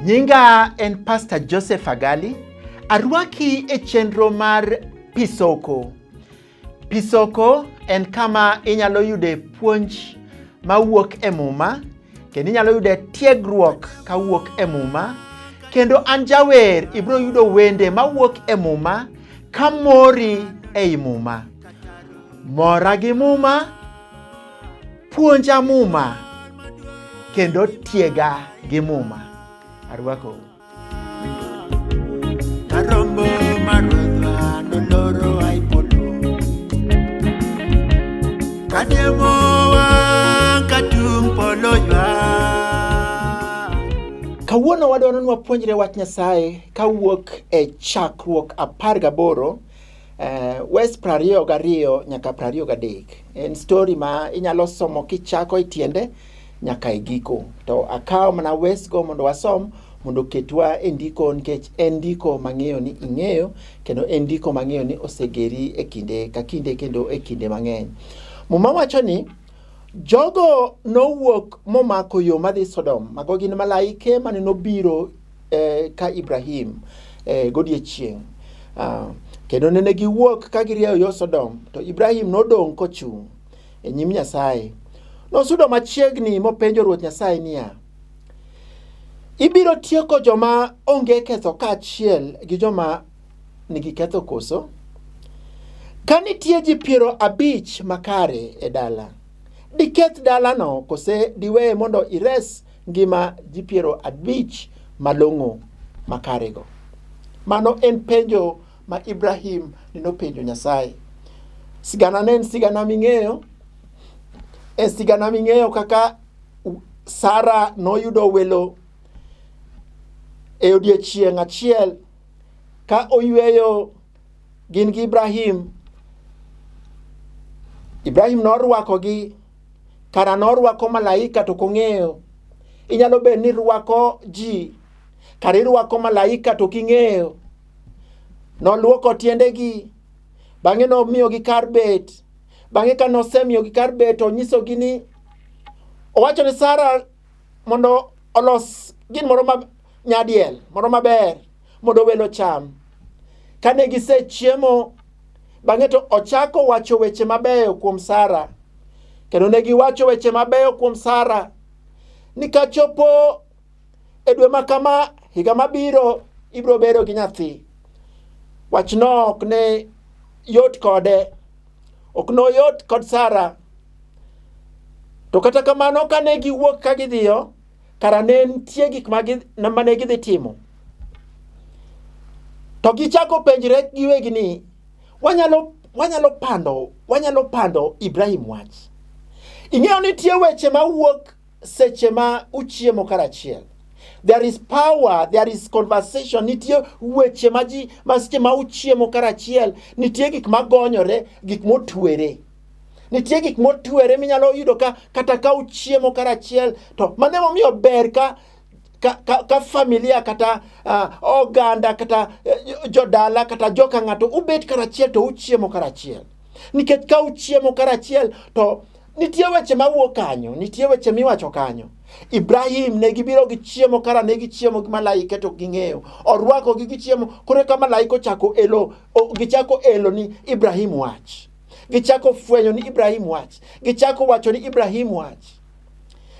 Nyinga en Pastor Joseph Agali. Arwaki e chenro mar Pisoko. Pisoko en kama inyalo yude puonj mawuok e Muma kendo inyalo yude tiegruok kawuok e Muma kendo an jawer ibiro yudo wende mawuok e Muma ka mori ei Muma. Mora gi Muma, puonja Muma kendo tiega gi Muma. Arwakou. Kawuono wadwaro ni wapuonjre wach Nyasaye kawuok e chakruok apar gaboro eh, wes prariyo gariyo nyaka prariyo gadek. En stori ma inyalo somo kichako e tiende nyaka e giko to akawo mana wesgo mondo wasom mondo oketwa e ndiko nikech en ndiko mang'eyo ni ing'eyo kendo en ndiko mang'eyo ni osegeri e kinde ka kinde kendo e kinde mang'eny muma wacho ni jogo nowuok momako yo madhi sodom mago gin malaike mane nobiro eh, ka ibrahim eh, godiechieng' uh, kendo nene giwuok ka girieyo yo sodom to ibrahim nodong' kochung' e nyim Nyasaye. Nosudo machiegni mopenjo Ruoth Nyasaye niya, Ibiro tieko joma onge ketho kaachiel gi joma nigi ketho koso? Ka nitie ji piero abich makare e dala, diketh dalano kose diweye mondo ires ngima ji piero abich malong'o makarego? Mano en penjo ma Ibrahim ne nopenjo Nyasaye. Sigana ne en sigana ming'eyo, en sigana ming'eyo kaka u- Sara noyudo welo e odiechieng' achiel ka oyweyo gin gi Ibrahim. Ibrahim norwakogi, kara norwako malaika to kong'eyo. Inyalo bedo ni irwako ji, kara irwako malaika to king'eyo. Noluoko tiendegi, bang'e nomiyogi kar bet. Bang'e ka nosemiyogi kar bet, onyisogi ni owacho ni Sara mondo olos gin moro ma nyadiel moro maber mondo welo cham. Kane gisechiemo, bang'e to ochako wacho weche mabeyo kuom Sara. Kendo ne giwacho weche mabeyo kuom Sara ni kachopo e dwe ma kama higa mabiro ibiro bedo gi nyathi wachno ok ne yot kode ok noyot kod sara to kata kamano kane giwuok ka gidhiyo kara ne nitie gik mane gidhi timo to gichako penjre giwegi ni wanyalo wanyalo pando wanyalo pando ibrahim wach ing'eyo nitie weche mawuok seche ma uchiemo karachiel there is power there is conversation nitie weche ma ji ma seche ma uchiemo karachiel nitie gik magonyore gik motwere nitie gik motwere minyalo yudo ka kata ka uchiemo karachiel to mano emomiyo ber ka ka, ka, ka familia kata uh, oganda kata uh, jodala kata joka ng'ato ubet karachiel to uchiemo karachiel nikech ka uchiemo karachiel to Nitie weche ma wuok kanyo, nitie weche miwacho kanyo. Ibrahim ne gibiro gi chiemo kara ne gichiemo gi malaike to ging'eyo. Orwako gi gichiemo kore ka malaika ochako elo gichako elo ni Ibrahim wach. Gichako fwenyo ni Ibrahim wach. Gichako wacho ni Ibrahim wach.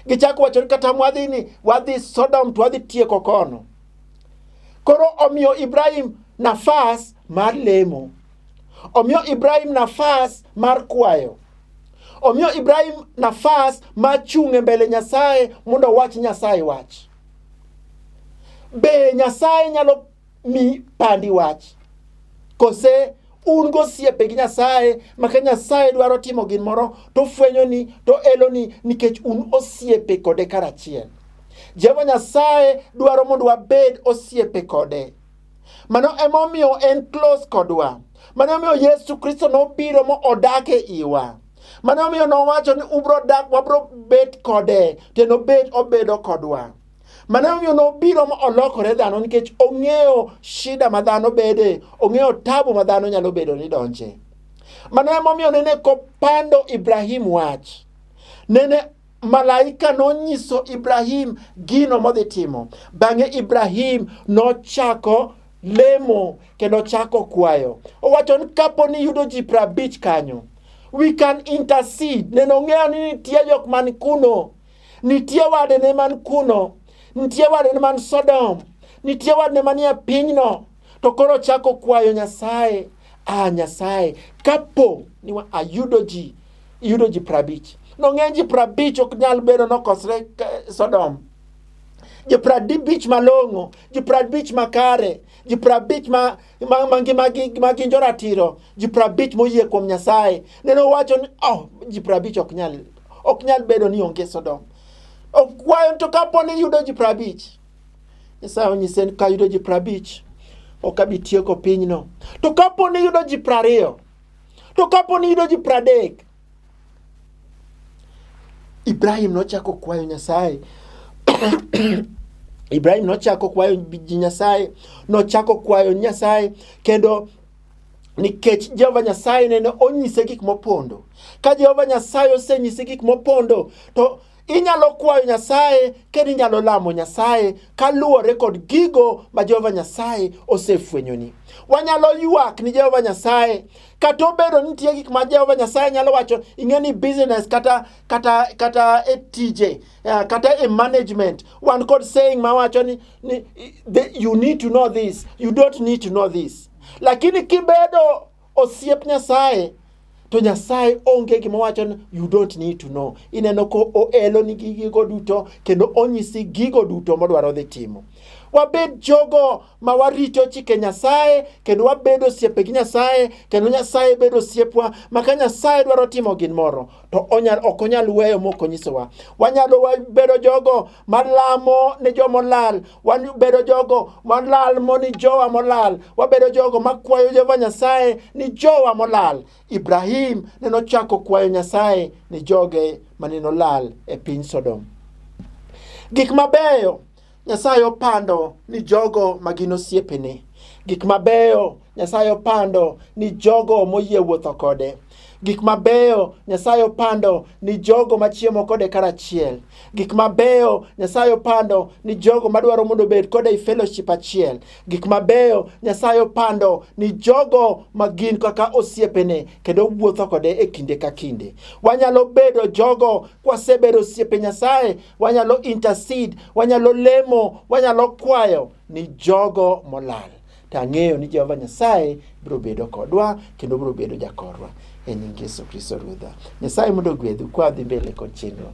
Gichako wacho ni kata mwadhi ni wadhi Sodom to wadhi tieko kono. Koro omiyo Ibrahim nafas mar lemo. Omiyo Ibrahim nafas mar kwayo. Omiyo Ibrahim nafas mar chung' e mbele Nyasaye mondo owach Nyasaye wach. Be Nyasaye nyalo mi pandi wach? Kose un gosiepe gi Nyasaye ma ka Nyasaye dwaro timo gin moro to fwenyo ni to elo ni nikech un osiepe kode karachiel. Jehova Nyasaye dwaro mondo wabed osiepe kode. Mano emomiyo en close kodwa. Mano omiyo Yesu Kristo nobiro mo odak e iwa. Mano omiyo nowacho ni ubro dak, wabro bet kode, to nobet obedo kodwa. Mano omiyo nobiro mo olokore dhano nikech ong'eyo shida ma dhano bede, ong'eyo tabu ma dhano nyalo bedo ni donje. Mano emomiyo nene kopando Ibrahim wach. Nene malaika nonyiso Ibrahim gino modhi timo. Bang'e Ibrahim nochako lemo kendo chako kwayo. Owacho ni kapo ni yudo ji prabich kanyo, we can intercede. Neno ng'eyo ni nitie jok man kuno, nitie wadene man kuno, nitie wadene man Sodom, nitie wadene manie pinyno. To koro ochako kwayo Nyasaye, ah Nyasaye, kapo ni wa- ayudo ji yudo ji prabich. Nong'eny ji prabich ok nyal bedo nokosre ka- Sodom. Ji prabich malong'o, ji prabich makare, ji prabich ma, ma, ma, gi- ma, gi- ma gin joratiro, ji prabich moyie kuom Nyasaye. Nene owacho ni oh, ji prabich ok nyal, ok nyal bedo ni onge Sodom. Okwayo to kapo ni yudo ji prabich. Nyasaye onyise ni kayudo ji prabich ok abi tieko pinyno to kapo ni yudo ji prariyo to kapo ni yudo ji pradek ibrahim nochako kwayo nyasaye ibrahim nochako kwayo ji nyasaye nochako kwayo nyasaye kendo nikech jehova nyasaye nene onyise gik mopondo ka jehova nyasaye osenyise gik mopondo to Inyalo kwayo Nyasaye kendo inyalo lamo Nyasaye kaluwore kod gigo ma Jehova Nyasaye osefwenyoni. Wanyalo ywak ni Jehova Nyasaye kata obedo ni nitie gik ma Jehova Nyasaye nyalo wacho ing'e ni business kata kata kata e tije eh, kata e management wan kod saying ma wacho ni, ni you need to know this you don't need to know this lakini kibedo osiep Nyasaye to Nyasaye onge gima wacho ni you don't need to know. Ineno ko oelo ni gigo duto kendo onyisi gigo duto modwaro dhi timo. Wabed jogo ma warito chike Nyasaye kendo wabedo osiepe gi Nyasaye kendo Nyasaye bedo osiepwa ma ka Nyasaye dwaro timo gin moro to onyal ok onyal weyo mok onyisowa. Wanyalo bedo jogo malamo ni jo molal wabedo jogo malalmo ni jowa molal wabedo jogo makwayo jehova nyasaye ni jowa molal ibrahim ne nochako kwayo nyasaye ni joge mane nolal e piny sodom gik mabeyo nyasaye opando ni jogo ma gin osiepene gik mabeyo nyasaye opando ni jogo moyie wuotho kode Gik mabeyo Nyasaye opando ni jogo machiemo kode karachiel. Gik mabeyo Nyasaye opando ni jogo madwaro mondo obed kode i fellowship achiel. Gik mabeyo Nyasaye opando ni jogo ma gin kaka osiepene kendo wuotho kode e kinde ka kinde. Wanyalo bedo jogo kwasebedo osiepe Nyasaye, wanyalo intercede, wanyalo lemo, wanyalo kwayo ni jogo molal. To ang'eyo ni Jehova Nyasaye biro bedo kodwa kendo biro bedo jakorwa e nying Yesu Kristo Ruodha. Nyasaye mondo ogwedhu kwa dhi mbele kod chenro.